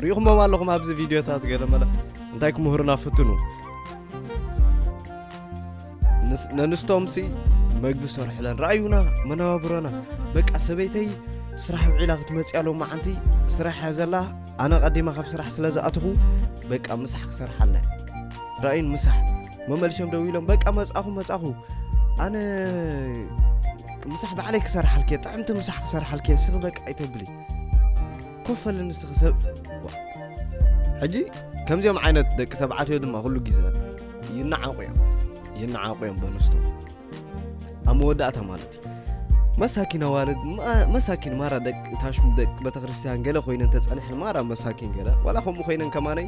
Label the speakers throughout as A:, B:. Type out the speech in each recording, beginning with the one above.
A: ርኢኹሞም ኣለኹም ኣብዚ ቪድዮታት ገለ መለ እንታይ ክምህሩና ፍትኑ ነንስቶምሲ መግቢ ሰርሕለን ረኣዩና መነባብሮና በቃ ሰበይተይ ስራሕ ውዒላ ክትመፅእ ኣለው መዓንቲ ስራሕ እያ ዘላ ኣነ ቀዲማ ካብ ስራሕ ስለ ዝኣትኹ በቃ ምሳሕ ክሰርሓ ኣለ ረኣዩን ምሳሕ መመልሶም ደው ኢሎም በቃ መፃኹ መፃኹ ኣነ ምሳሕ ባዕለይ ክሰርሓልክ ጥዕምቲ ምሳሕ ክሰርሓልክ ስኽ በቃ ኣይተብልይ ኮፍ ኣለ ንስኺ ሰብ ሕጂ ከምዚኦም ዓይነት ደቂ ተባዕትዮ ድማ ኩሉ ግዜ ይነዓቑ እዮም ይነዓቑ እዮም በንስቶ ኣብ መወዳእታ ማለት እዩ መሳኪን ኣዋልድ መሳኪን ማራ ደቂ ታሽሙ ደቂ ቤተክርስትያን ገለ ኮይነን ተፀኒሐን ማራ መሳኪን ገለ ዋላ ከምኡ ኮይነን ከማነይ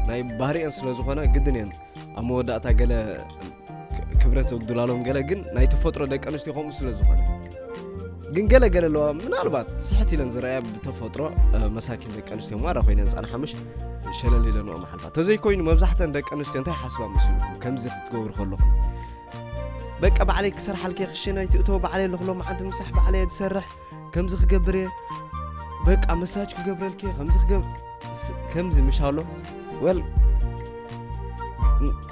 A: ናይ ባህሪአን ስለ ዝኾነ ግድን እየን ኣብ መወዳእታ ገለ ክብረት ዘጉድላሎም ገለ ግን ናይ ተፈጥሮ ደቂ ኣንስትዮ ከምኡ ስለ ዝኾነ ግን ገለ ገለ ኣለዋ ምናልባት ስሕት ኢለን ዝረኣያ ብተፈጥሮ መሳኪን ደቂ ኣንስትዮ ማራ ኮይነን ፃን ሓምሽ ሸለል ኢለንኦ መሓልፋ ተዘይኮይኑ መብዛሕተን ደቂ ኣንስትዮ እንታይ ሓስባ መስልኩም ከምዚ ክትገብሩ ከለኹም በቃ ባዕለይ ክሰርሓልከ ክሽነ ኣይትእቶ ባዕለይ ኣለኹሎ መዓንቲ ምሳሕ ባዕለይ ዝሰርሕ ከምዚ ክገብር እየ በቃ መሳጅ ክገብረልክ እየ ከምዚ ክገብር ስ- ከምዚ ምሻሎ ወል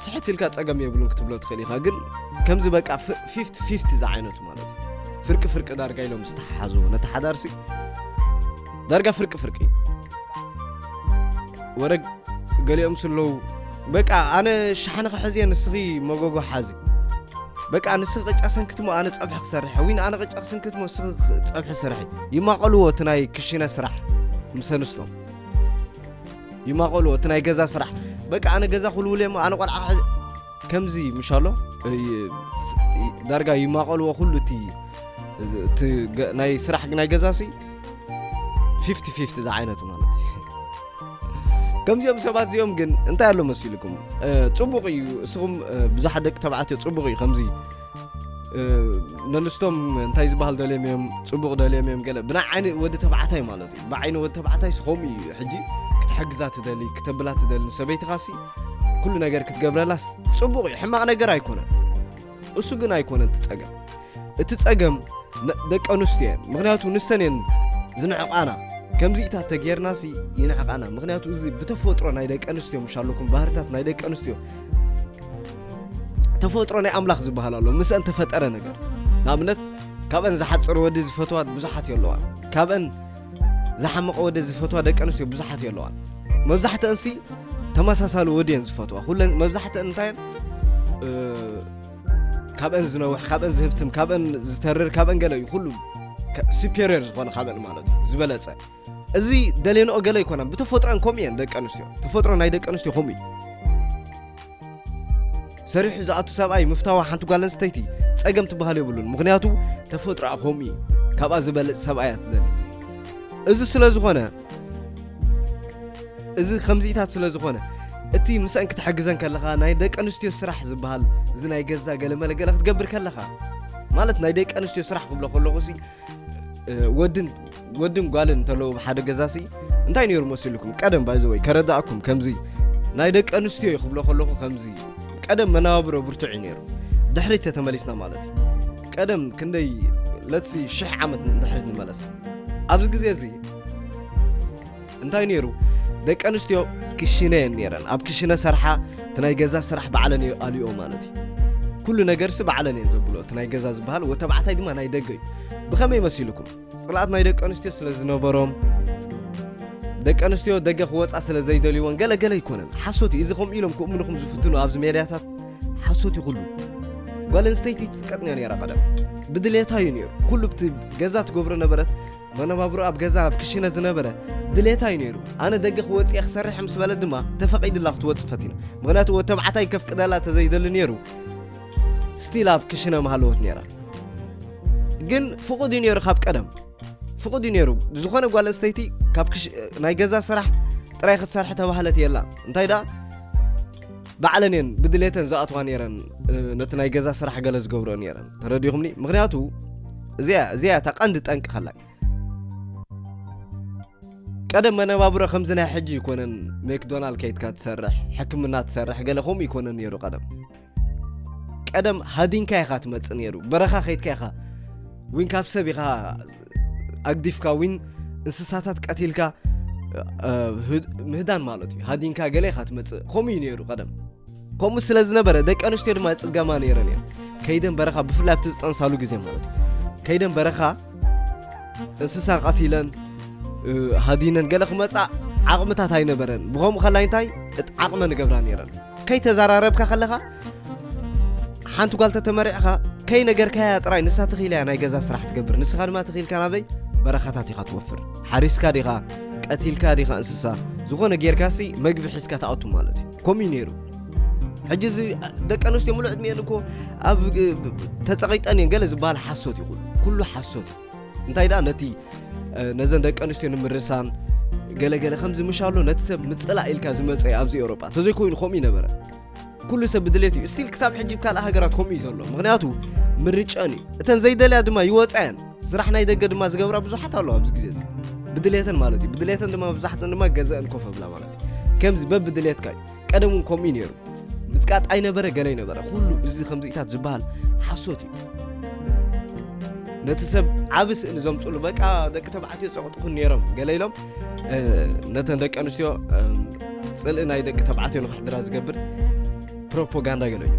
A: ስሕት ኢልካ ፀገም የብሉን ክትብሎ ትኽእል ኢኻ ግን ከምዚ በቃ ፊፍቲ ፊፍቲ ዝዓይነቱ ማለት እዩ ፍርቂ ፍርቂ ዳርጋ ኢሎም ዝተሓሓዝዎ ነቲ ሓዳርሲ ዳርጋ ፍርቂ ፍርቂ ወረ ገሊኦም ስለዉ በቃ ኣነ ሻሓኒ ክሕዝ እየ ንስኺ መጎጎ ሓዚ በቃ ንስኺ ቅጫ ሰንክትሞ ኣነ ጸብሒ ክሰርሐ ዊን ኣነ ቅጫ ክሰንክትሞ ንስኺ ጸብሒ ስርሒ ይማቐልዎ እቲ ናይ ክሽነ ስራሕ ምስ ኣንስቶም ይማቐልዎ እቲ ናይ ገዛ ስራሕ በቃ ኣነ ገዛ ክልውለ እሞ ኣነ ቆልዓ ክሕዝ ከምዚ ምሽ ኣሎ እይ- ይ- ዳርጋ ይማቐልዎ ኩሉ እቲ እቲ ገ- ናይ ስራሕ ናይ ገዛ ሲ ፊፍቲ ፊፍቲ ዝዓይነቱ ማለት እዩ ከምዚኦም ሰባት እዚኦም ግን እንታይ ኣሎ መሲልኩም ፅቡቕ እዩ እስኹም ብዙሓት ደቂ ተባዕትዮ ፅቡቕ እዩ ከምዚ ነንስቶም እንታይ ዝበሃል ደልዮም እዮም ፅቡቕ ደልዮም እዮም ገለ ብናይ ዓይኒ ወዲ ተባዕታይ ማለት እዩ ብዓይኒ ወዲ ተባዕታይ ስኸምኡ እዩ ሕጂ ክትሕግዛ ትደሊ ክተብላ ትደሊ ሰበይትኻሲ ኩሉ ነገር ክትገብረላስ ፅቡቕ እዩ ሕማቕ ነገር ኣይኮነን እሱ ግን ኣይኮነን እቲ ጸገም እቲ ጸገም ደቂ ኣንስትዮ እየን ምክንያቱ ንሰን እየን ዝንዕቃና ከምዚኢታት ተጌርናሲ ይንዕቃና ምክንያቱ እዚ ብተፈጥሮ ናይ ደቂ ኣንስትዮ ምሽ ኣለኩም ባህርታት ናይ ደቂ ኣንስትዮ ተፈጥሮ ናይ ኣምላኽ ዝበሃል ኣሎ ምስአን ተፈጠረ ነገር ንኣብነት ካብአን ዝሓፅር ወዲ ዝፈትዋን ብዙሓት የለዋን ካብአን ዝሓመቐ ወደ ዝፈትዋ ደቂ ኣንስትዮ ብዙሓት እዮ ኣለዋ መብዛሕተንሲ ተመሳሳሊ ወዲ እየን ዝፈትዋ ኩለን መብዛሕተን እንታይ ካብአን ዝነውሕ ካብአን ዝህብትም ካብአን ዝተርር ካብአን ገለ እዩ ኩሉ ሱፔሪየር ዝኾነ ካብአን ማለት እዩ ዝበለፀ እዚ ደሌንኦ ገለ ኣይኮነን ብተፈጥሮን ከምኡ እየን ደቂ ኣንስትዮ ተፈጥሮ ናይ ደቂ ኣንስትዮ ከምኡ እዩ ሰሪሑ ዝኣቱ ሰብኣይ ምፍታዋ ሓንቲ ጓል ኣንስተይቲ ጸገም ትበሃል የብሉን ምክንያቱ ተፈጥሮኣ ከምኡ እዩ ካብኣ ዝበልጽ ሰብኣያ ትደሊ እዚ ስለ ዝኾነ እዚ ከምዚኢታት ስለ ዝኾነ እቲ ምስአን ክትሕግዘን ከለኻ ናይ ደቂ ኣንስትዮ ስራሕ ዝበሃል እዚ ናይ ገዛ ገለመለገለ ክትገብር ከለኻ ማለት ናይ ደቂ ኣንስትዮ ስራሕ ክብሎ ከለኹ ሲ ወድን ወድን ጓልን እንተለዉ ኣብ ሓደ ገዛሲ እንታይ ነይሩ መሲሉኩም ቀደም ባይዘወይ ከረዳእኩም ከምዚ ናይ ደቂ ኣንስትዮ እዩ ክብሎ ከለኹ ከምዚ ቀደም መናባብሮ ብርቱዕ እዩ ነይሩ ድሕሪት ተተመሊስና ማለት እዩ ቀደም ክንደይ ለትሲ ሽሕ ዓመት ድሕሪት ንመለስ ኣብዚ ግዜ እዚ እንታይ ነይሩ ደቂ ኣንስትዮ ክሽነ እየን ነይረን ኣብ ክሽነ ሰርሓ እቲ ናይ ገዛ ስራሕ ባዕለን ኣልኦ ማለት እዩ ኩሉ ነገርሲ ባዕለን እየን ዘብሎ እቲ ናይ ገዛ ዝበሃል ወተባዕታይ ድማ ናይ ደገ እዩ ብኸመይ መሲልኩም ጽልኣት ናይ ደቂ ኣንስትዮ ስለ ዝነበሮም ደቂ ኣንስትዮ ደገ ክወፃ ስለ ዘይደልይዎን ገለ ገለ ኣይኮነን ሓሶት እዩ እዚ ከምኡ ኢሎም ክእምኑኹም ዝፍትኑ ኣብዚ ሜድያታት ሓሶት ይኹሉ ጓል ኣንስተይቲ ትፅቀጥ እያ ነራ ቀደም ብድሌታ እዩ ነይሩ ኩሉ ብቲ ገዛ ትገብሮ ነበረት መነባብሮ ኣብ ገዛ ኣብ ክሽነ ዝነበረ ድሌታ እዩ ነይሩ ኣነ ደገ ክወፅእ ክሰርሕ ምስ በለ ድማ ተፈቒድላ ክትወፅእ ፈቲና ምክንያቱ ወተባዕታይ ከፍቅደላ ተዘይደሊ ነይሩ ስቲል ኣብ ክሽነ ምሃለወት ነይራ ግን ፍቑድ እዩ ነይሩ ካብ ቀደም ፍቑድ እዩ ነይሩ ዝኾነ ጓል ኣንስተይቲ ካብ ናይ ገዛ ስራሕ ጥራይ ክትሰርሐ ተባህለት የላ እንታይ ደኣ ባዕለን እየን ብድሌተን ዝኣትዋ ነይረን ነቲ ናይ ገዛ ስራሕ ገለ ዝገብሮ ነይረን ተረዲኹምኒ ምክንያቱ እዚያ እዚያ እታ ቀንዲ ጠንቂ ከላይ ቀደም መነባብሮ ከምዚ ናይ ሕጂ ይኮነን ሜክዶናልድ ከይትካ ትሰርሕ ሕክምና ትሰርሕ ገለ ከምኡ ይኮነን ነይሩ ቀደም ቀደም ሃዲንካ ኢኻ ትመጽእ ነይሩ በረኻ ከይትካ ኢኻ ዊን ካብ ሰብ ኢኻ ኣግዲፍካ ዊን እንስሳታት ቀቲልካ ምህዳን ማለት እዩ ሃዲንካ ገለ ኢኻ ትመጽእ ከምኡ እዩ ነይሩ ቀደም ከምኡ ስለ ዝነበረ ደቂ ኣንስትዮ ድማ ይፅገማ ነይረን እየን ከይደን በረኻ ብፍላይ ኣብቲ ዝጠንሳሉ ግዜ ማለት እዩ ከይደን በረኻ እንስሳ ቀቲለን ሃዲነን ገለ ክመፃእ ዓቕምታት ኣይነበረን ብከምኡ ከላይ እንታይ ዓቕመ ንገብራ ነይረን ከይተዛራረብካ ከለኻ ሓንቲ ጓል ተተመሪዕኻ ከይነገርካያ ጥራይ ንሳ ትኽኢላ እያ ናይ ገዛ ስራሕ ትገብር ንስኻ ድማ ትኽኢልካ ናበይ በረኻታት ኢኻ ትወፍር ሓሪስካ ዲኻ ቀቲልካ ዲኻ እንስሳ ዝኾነ ጌርካሲ መግቢ ሒዝካ ትኣቱ ማለት እዩ ከምኡ እዩ ነይሩ ሕጂ እዚ ደቂ ኣንስትዮ ሙሉእ ዕድሚኤን እኮ ኣብ ተፀቂጠን እየን ገለ ዝበሃል ሓሶት እዩ ኩሉ ሓሶት እዩ እንታይ ደኣ ነቲ ነዘን ደቂ ኣንስትዮ ንምርሳን ገለገለ ከምዚ ምሻሎ ነቲ ሰብ ምፅላእ ኢልካ ዝመፀ ኣብዚ ኤውሮጳ እንተዘይኮይኑ ከምኡ ይነበረ ኩሉ ሰብ ብድሌት እዩ ስቲል ክሳብ ሕጂ ካልእ ሃገራት ከምኡ እዩ ዘሎ ምክንያቱ ምርጨን እዩ እተን ዘይደልያ ድማ ይወፅዐን ስራሕ ናይ ደገ ድማ ዝገብራ ብዙሓት ኣለዋ ኣብዚ ግዜ እዚ ብድሌተን ማለት እዩ ብድሌተን ድማ መብዛሕተን ድማ ገዘአን ኮፍ ኣብላ ማለት እዩ ከምዚ በብድሌትካ እዩ ቀደም እውን ከምኡ እዩ ነይሩ ምጽቃጥ ኣይነበረ ገለ ይነበረ ኩሉ እዚ ከምዚኢታት ዝበሃል ሓሶት እዩ ነቲ ሰብ ዓብ ስእሊ ዘምፅሉ በቃ ደቂ ተባዕትዮ ፀቕጥኹን ነይሮም ገለ ኢሎም ነተን ደቂ ኣንስትዮ ፅልኢ ናይ ደቂ ተባዕትዮ ንክሕድራ ዝገብር ፕሮፓጋንዳ ገለ እዩ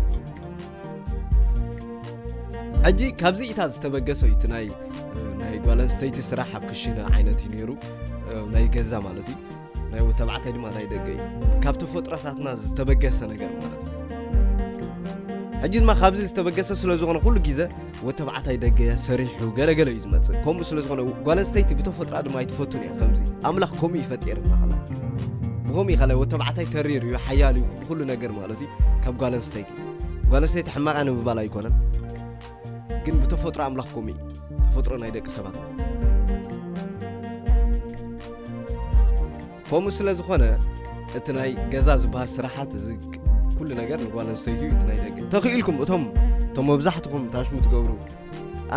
A: ሕጂ ካብዚ ኢታ ዝተበገሰ እዩ እቲ ናይ ጓል ኣንስተይቲ ስራሕ ኣብ ክሽነ ዓይነት እዩ ነይሩ ናይ ገዛ ማለት እዩ ናይ ወዲ ተባዕታይ ድማ ናይ ደገ እዩ ካብ ተፈጥሮታትና ዝተበገሰ ነገር ማለት እዩ ሕጂ ድማ ካብዚ ዝተበገሰ ስለ ዝኾነ ኩሉ ግዜ ወዲ ተባዕታይ ደገ ሰሪሑ ገለገለ እዩ ዝመፅእ ከምኡ ስለ ዝኾነ ጓል ኣንስተይቲ ብተፈጥራ ድማ ኣይትፈቱን እያ ከምዚ ኣምላኽ ከምኡ እዩ ፈጢርና ኸላ ብከምኡ እዩ ኸላይ ወዲ ተባዕታይ ተሪር እዩ ሓያል እዩ ኩሉ ነገር ማለት እዩ ካብ ጓል ኣንስተይቲ ጓል ኣንስተይቲ ሕማቓ ንምባል ኣይኮነን ግን ብተፈጥሮ ኣምላኽ ከምኡ እዩ ተፈጥሮ ናይ ደቂ ሰባት ከምኡ ስለ ዝኾነ እቲ ናይ ገዛ ዝበሃል ስራሓት እዚ ኩሉ ነገር ንጓል ኣንስተይቲ እዩ እቲ ናይ ደቂ ተኽኢልኩም እቶም እቶም መብዛሕትኹም ታሽሙ ትገብሩ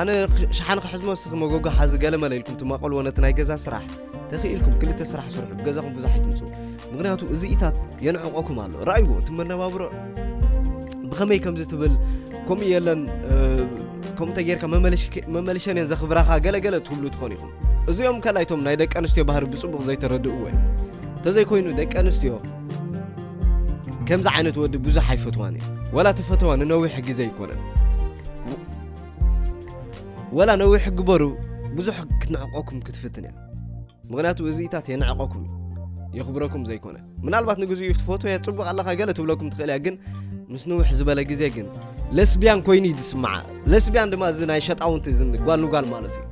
A: ኣነ ሸሓን ክሕዝሞ ስኺ መጎጎ ሓዚ ገለመለ ኢልኩም ትማቐልዎ ነቲ ናይ ገዛ ስራሕ ተኺኢልኩም ክልተ ስራሕ ስርሑ ብገዛኹም ብዙሕ ኣይትምፁ ምክንያቱ እዚኢታት የንዕቆኩም ኣሎ ረኣይዎ እቲ መነባብሮ ብኸመይ ከምዚ ትብል ከምኡ የለን ከምኡ እንተጌርካ መመልሸን እየን ዘኽብራኻ ገለገለ ትብሉ ትኾኑ ኢኹም እዚኦም ከላይቶም ናይ ደቂ ኣንስትዮ ባህሪ ብፅቡቕ ዘይተረድእዎ እዮም እንተዘይኮይኑ ደቂ ኣንስትዮ ከምዚ ዓይነት ወዲ ብዙሕ ኣይፈትዋን እዩ ወላ ተፈተዋ ንነዊሕ ግዜ ኣይኮነን ወላ ነዊሕ ግበሩ ብዙሕ ክትንዕቀኩም ክትፍትን እያ ምክንያቱ እዚኢታት የንዕቀኩም እዩ የኽብረኩም ዘይኮነ ምናልባት ንግዚኡ ትፈትወ ፅቡቅ ኣለካ ገለ ትብለኩም ትኽእል እያ ግን ምስ ንውሕ ዝበለ ግዜ ግን ለስቢያን ኮይኑ እዩ ዝስምዓ ለስቢያን ድማ እዚ ናይ ሸጣውንቲ ጓል ንጓል ማለት እዩ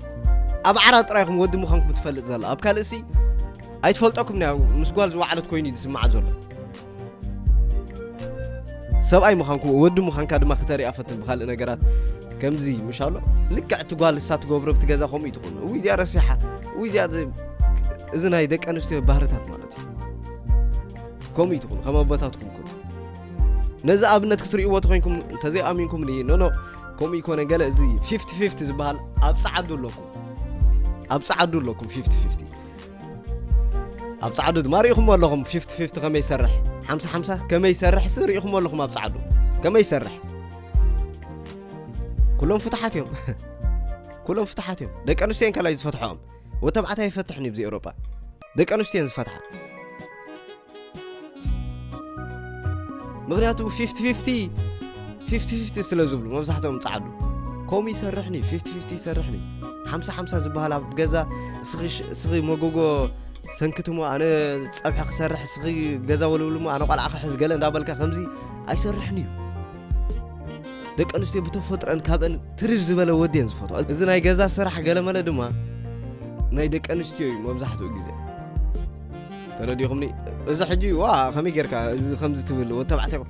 A: ኣብ ዓራ ጥራይኹም ወዲ ምዃንኩም ትፈልጥ ዘላ ኣብ ካልእ ሲ ኣይትፈልጠኩም ምስ ጓል ዝወዓለት ኮይኑ እዩ ዝስምዓ ዘሎ ሰብኣይ ምዃንኩ ወዲ ምዃንካ ድማ ክተሪኣ ፈትን ብካልእ ነገራት ከምዚ ምሻሎ ልክዕ እቲ ጓል እሳ ትገብሮ ብቲ ገዛ ከምኡ ትኾኑ እው እዚኣ ረሲሓ እው እዚኣ እዚ ናይ ደቂ ኣንስትዮ ባህርታት ማለት እዩ ከምኡ ትኹኑ ከም ኣቦታትኩም ኩኑ ነዚ ኣብነት ክትርእይዎ ተኮይንኩም እንተዘይኣሚንኩም ን ኖኖ ከምኡ ይኮነ ገለ እዚ ፊፍቲ ፊፍቲ ዝበሃል ኣብ ፀዓዱ ኣለኩም ኣብ ፀዓዱ ኣለኩም ፊፍቲ ፊፍቲ ኣብ ጻዕዱ ድማ ርኢኹሞ ኣለኹም ፊፍቲ ፊፍቲ ከመይ ይሰርሕ ሓምሳ ሓምሳ ከመይ ይሰርሕሲ ርኢኹሞ ኣለኹም ኣብ ጻዕዱ ከመይ ይሰርሕ ኩሎም ፍትሓት እዮም ኩሎም ፍትሓት እዮም ደቂ ኣንስትዮን ከላይ ዝፈትሖኦም ወተባዕታይ ይፈትሕን እዩ ብዚ ኤውሮጳ ደቂ ኣንስትዮን ዝፈትሓ ምክንያቱ ፊፍቲ ፊፍቲ ፊፍቲ ፊፍቲ ስለ ዝብሉ መብዛሕትኦም ጻዓዱ ከምኡ ይሰርሕኒ ፊፍቲ ፊፍቲ ይሰርሕኒ ሓምሳ ሓምሳ ዝበሃል ኣብ ገዛ እስኺ መጎጎ ሰንክትሞ ኣነ ፀብሒ ክሰርሕ እስኺ ገዛ ወልብልሞ ኣነ ቋልዓ ክሕዝ ገለ እንዳበልካ ከምዚ ኣይሰርሕን እዩ ደቂ ኣንስትዮ ብተፈጥረን ካብአን ትርር ዝበለ ወዲ እየን ዝፈትዋ እዚ ናይ ገዛ ስራሕ ገለመለ ድማ ናይ ደቂ ኣንስትዮ እዩ መብዛሕትኡ ግዜ ተረዲኹምኒ እዚ ሕጂ ዋ ከመይ ጌርካ እዚ ከምዚ ትብል ወዲ ተባዕታይ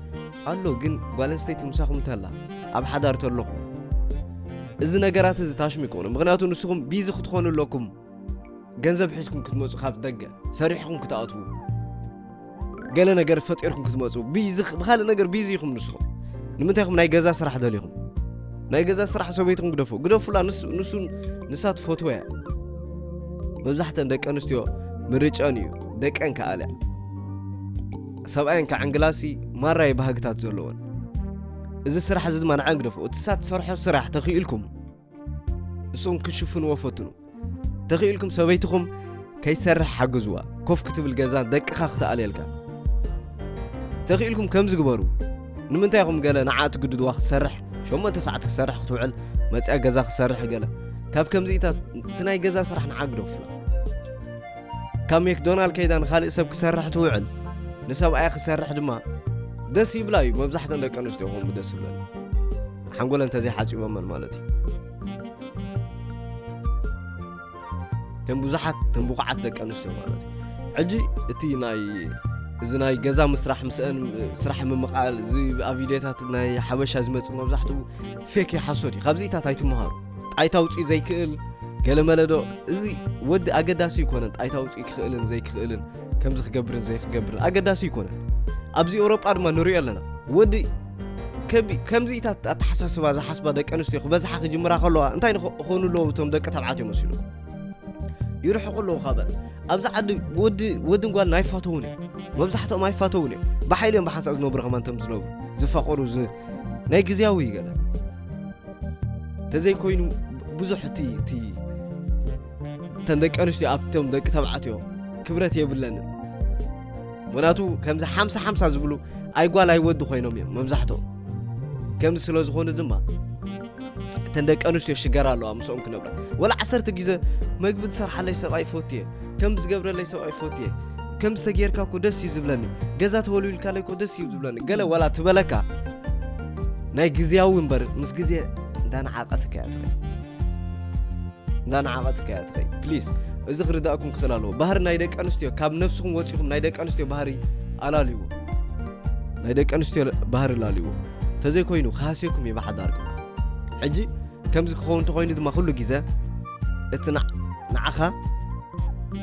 A: ኣሎ ግን ጓል ኣንስተይቲ ምሳኹም እንተላ ኣብ ሓዳር ተለኹ እዚ ነገራት እዚ ታሽሙ ይኮኑ ምክንያቱ ንስኹም ቢዚ ክትኾኑ ኣለኩም ገንዘብ ሒዝኩም ክትመፁ ካብ ደገ ሰሪሕኩም ክትኣትዉ ገለ ነገር ፈጢርኩም ክትመፁ ቢዚ ብካልእ ነገር ቢዚ ኢኹም ንስኹም ንምንታይ ኢኹም ናይ ገዛ ስራሕ ደሊኹም ናይ ገዛ ስራሕ ሰበይትኩም ግደፉ ግደፉላ ንሱ ንሳ ትፈትወ እያ መብዛሕተን ደቂ ኣንስትዮ ምርጨን እዩ ደቀን ከኣልያ ሰብኣየን ከዕንግላሲ ማራይ ባህግታት ዘለዎን እዚ ስራሕ እዚ ድማ ንዓ ግደፉ እቲ ሳ ትሰርሖ ስራሕ ተኽኢልኩም እሶም ክሽፍንዎ ፈትኑ ተኽኢልኩም ሰበይትኹም ከይሰርሕ ሓግዝዋ ኮፍ ክትብል ገዛ ደቅኻ ክትኣልየልካ ተኽኢልኩም ከምዚ ግበሩ ንምንታይ ኢኹም ገለ ንዓ ትግድድዋ ክትሰርሕ ሸሞንተ ሰዓት ክሰርሕ ክትውዕል መፅያ ገዛ ክሰርሕ ገለ ካብ ከምዚኢታት እቲ ናይ ገዛ ስራሕ ንዓግዶ ፍላ ካብ ሜክዶናል ከይዳ ንካልእ ሰብ ክሰርሕ ትውዕል ንሰብኣያ ክሰርሕ ድማ ደስ ይብላ እዩ መብዛሕተን ደቂ ኣንስትዮ ከምኡ ደስ ይብለን ሓንጎለን እንተዘይሓፂቦመን ማለት እዩ ተን ብዙሓት ተን ብቑዓት ደቂ ኣንስትዮ ማለት እዩ ሕጂ እቲ ናይ እዚ ናይ ገዛ ምስራሕ ምስአን ስራሕ ምምቓል እዚ ኣብ ቪድዮታት ናይ ሓበሻ ዝመፅ መብዛሕትኡ ፌክ እዩ ሓሶት እዩ ካብዚታት ኣይትምሃሩ ጣይታ ውፅኢ ዘይክእል ገለመለ ዶ እዚ ወዲ ኣገዳሲ ይኮነን ጣይታ ውፅኢ ክኽእልን ዘይክኽእልን ከምዚ ክገብርን ዘይክገብርን ኣገዳሲ ይኮነን ኣብዚ ኤውሮጳ ድማ ንሪኦ ኣለና ወዲ ከምዚኢታት ኣተሓሳስባ ዝሓስባ ደቂ ኣንስትዮ ክበዝሓ ክጅምራ ከለዋ እንታይ ንክኾኑ ኣለዎ እቶም ደቂ ተባዕትዮ መሲሉ ይርሕቁ ኣለዉ ካበን ኣብዚ ዓዲ ወድን ጓልን ኣይፋተውን እዮም መብዛሕትኦም ኣይፋተውን እዮም ብሓይሊ እዮም ብሓንሳእ ዝነብሩ ከማ እንቶም ዝነብሩ ዝፋቀሩ ናይ ግዜያዊ እዩ ገለ እንተዘይኮይኑ ብዙሕ እቲ እቲ እተን ደቂ ኣንስትዮ ኣብቶም ደቂ ተባዕትዮ ክብረት የብለንን ምክንያቱ ከምዚ ሓምሳ ሓምሳ ዝብሉ ኣይጓል ኣይወዲ ኮይኖም እዮም መብዛሕትኦም ከምዚ ስለ ዝኾኑ ድማ እተን ደቂ ኣንስትዮ ሽገራ ኣለዋ ምስኦም ክነብራ ወላ ዓሰርተ ግዘ መግቢ ዝሰርሓለይ ሰብኣይ ፎት እየ ከም ዝገብረለይ ሰብኣይ ፎት እየ ከም ዝተጌርካ እኮ ደስ እዩ ዝብለኒ ገዛ ተወልዊልካለይ እኮ ደስ እዩ ዝብለኒ ገለ ወላ ትበለካ ናይ ግዜያዊ እምበር ምስ ግዜ እንዳነዓቐትካ እያ ትኸ እንዳነዓቐት ከያ ትኸይ ፕሊስ እዚ ክርዳእኩም ክኽእል ኣለዎ ባህሪ ናይ ደቂ ኣንስትዮ ካብ ነብስኹም ወፂኹም ናይ ደቂ ኣንስትዮ ባህሪ ኣላልይዎ ናይ ደቂ ኣንስትዮ ባህሪ ላልይዎ እንተዘይኮይኑ ክሃስየኩም እዩ ብሓዳርኩም ሕጂ ከምዚ ክኸውን እንተኮይኑ ድማ ኩሉ ግዜ እቲ ንዓኻ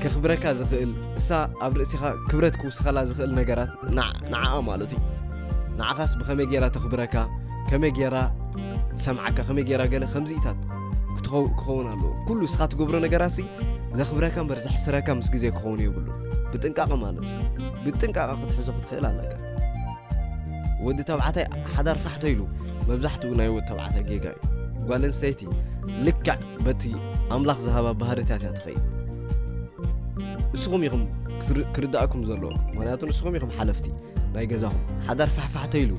A: ከኽብረካ ዝኽእል እሳ ኣብ ርእሲኻ ክብረት ክውስኸላ ዝኽእል ነገራት ንዓኣ ማለት እዩ ንዓኻስ ብኸመይ ገይራ ተኽብረካ ከመይ ገይራ ትሰምዓካ ከመይ ገይራ ገለ ከምዚኢታት ክኸውን ኣለዎ ኩሉ እስኻ ትገብሮ ነገራሲ ዘኽብረካ እምበር ዘሕስረካ ምስ ግዜ ክኸውን የብሉ ብጥንቃቐ ማለት እዩ ብጥንቃቐ ክትሕዞ ክትኽእል ኣለካ ወዲ ተባዕታይ ሓዳር ፋሕተ ኢሉ መብዛሕትኡ ናይ ወዲ ተባዕታይ ጌጋ እዩ ጓል ኣንስተይቲ ልክዕ በቲ ኣምላኽ ዝሃባ ባህርታት እያ ትኸይድ ንስኹም ኢኹም ክርዳእኩም ዘለዎ ምክንያቱ ንስኹም ኢኹም ሓለፍቲ ናይ ገዛኹም ሓዳር ፋሕፋሕተ ኢሉ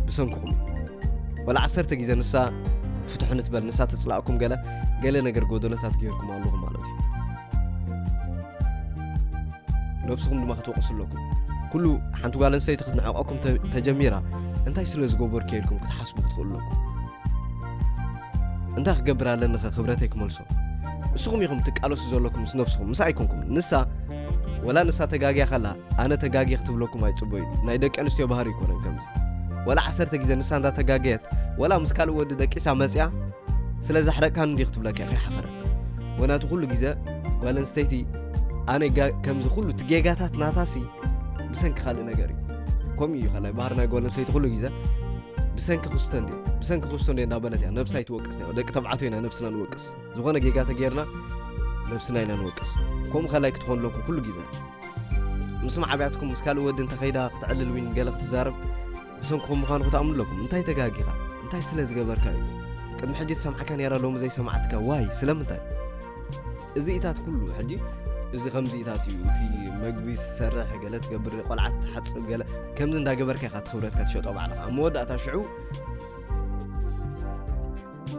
A: ብሰንኩኹም ወላ ዓሰርተ ግዜ ንሳ ፍትሑ ንትበል ንሳ ትፅላእኩም ገለ ገለ ነገር ጎደሎታት ገይርኩም ኣለኹም ማለት እዩ ነብስኹም ድማ ክትወቕሱ ኣለኩም ኩሉ ሓንቲ ጓል ኣንስተይቲ ክትንዕቐኩም ተጀሚራ እንታይ ስለ ዝገበርኩ ኢልኩም ክትሓስቡ ክትኽእሉ ኣለኩም እንታይ ክገብር ኣለኒኸ ክብረተይ ክመልሶ ንስኹም ኢኹም ትቃለሱ ዘለኩም ምስ ነብስኹም ምስ ኣይኮንኩም ንሳ ወላ ንሳ ተጋግያ ከላ ኣነ ተጋጊ ክትብለኩም ኣይፅበዩ ናይ ደቂ ኣንስትዮ ባህሪ ይኮነን ከምዚ ወላ ዓሰርተ ግዜ ንሳ እንዳ ተጋገየት ወላ ምስ ካልእ ወዲ ደቂሳ መፅያ ስለ ዘሕረቅካን እንዲ ክትብለካ ኢኸ ሓፈረት ወናቱ ኩሉ ግዜ ጓል ኣንስተይቲ ኣነ ከምዚ ኩሉ እቲ ጌጋታት ናታሲ ብሰንኪ ካልእ ነገር እዩ ከምኡ እዩ ከላይ ባህር ናይ ጓል ኣንስተይቲ ኩሉ ግዜ ብሰንኪ ክስቶ እንድዮ ብሰንኪ ክስቶ እንድዮ እንዳበለት እያ ነብሳ ይትወቅስ ያ ደቂ ተባዕትዮ ኢና ነብስና ንወቅስ ዝኾነ ጌጋ ተገይርና ነብስና ኢና ንወቅስ ከምኡ ከላይ ክትኾኑ ኣለኩም ኩሉ ግዜ ምስ ማዕብያትኩም ምስ ካልእ ወዲ እንተኸይዳ ክትዕልል ዊን ገለ ክትዛረብ ብሰንክኹም ምዃኑ ክትኣምኑ ኣለኩም እንታይ ተጋጊኻ እንታይ ስለ ዝገበርካ እዩ ቅድሚ ሕጂ ዝሰምዓካ ነራ ሎሚ ዘይሰማዕትካ ዋይ ስለምንታይ እዚኢታት ኩሉ ሕጂ እዚ ከምዚኢታት እዩ እቲ መግቢ ዝሰርሕ ገለ ትገብር ቆልዓ ትሓፅብ ገለ ከምዚ እንዳገበርካ ኢኻ ትኽብረትካ ትሸጦ ባዕልኻ ኣብ መወዳእታ ሽዑ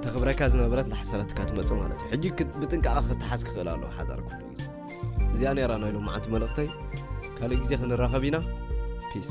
A: ተኽብረካ ዝነበረት እንዳሓሰረትካ ትመፅእ ማለት እዩ ሕጂ ብጥንቃቐ ክትሓዝ ክኽእል ኣለዎ ሓዳር ኩሉ ግዜ እዚኣ ነራ ናይ ሎማዓንቲ መልእኽተይ ካልእ ግዜ ክንራኸብ ኢና ፒስ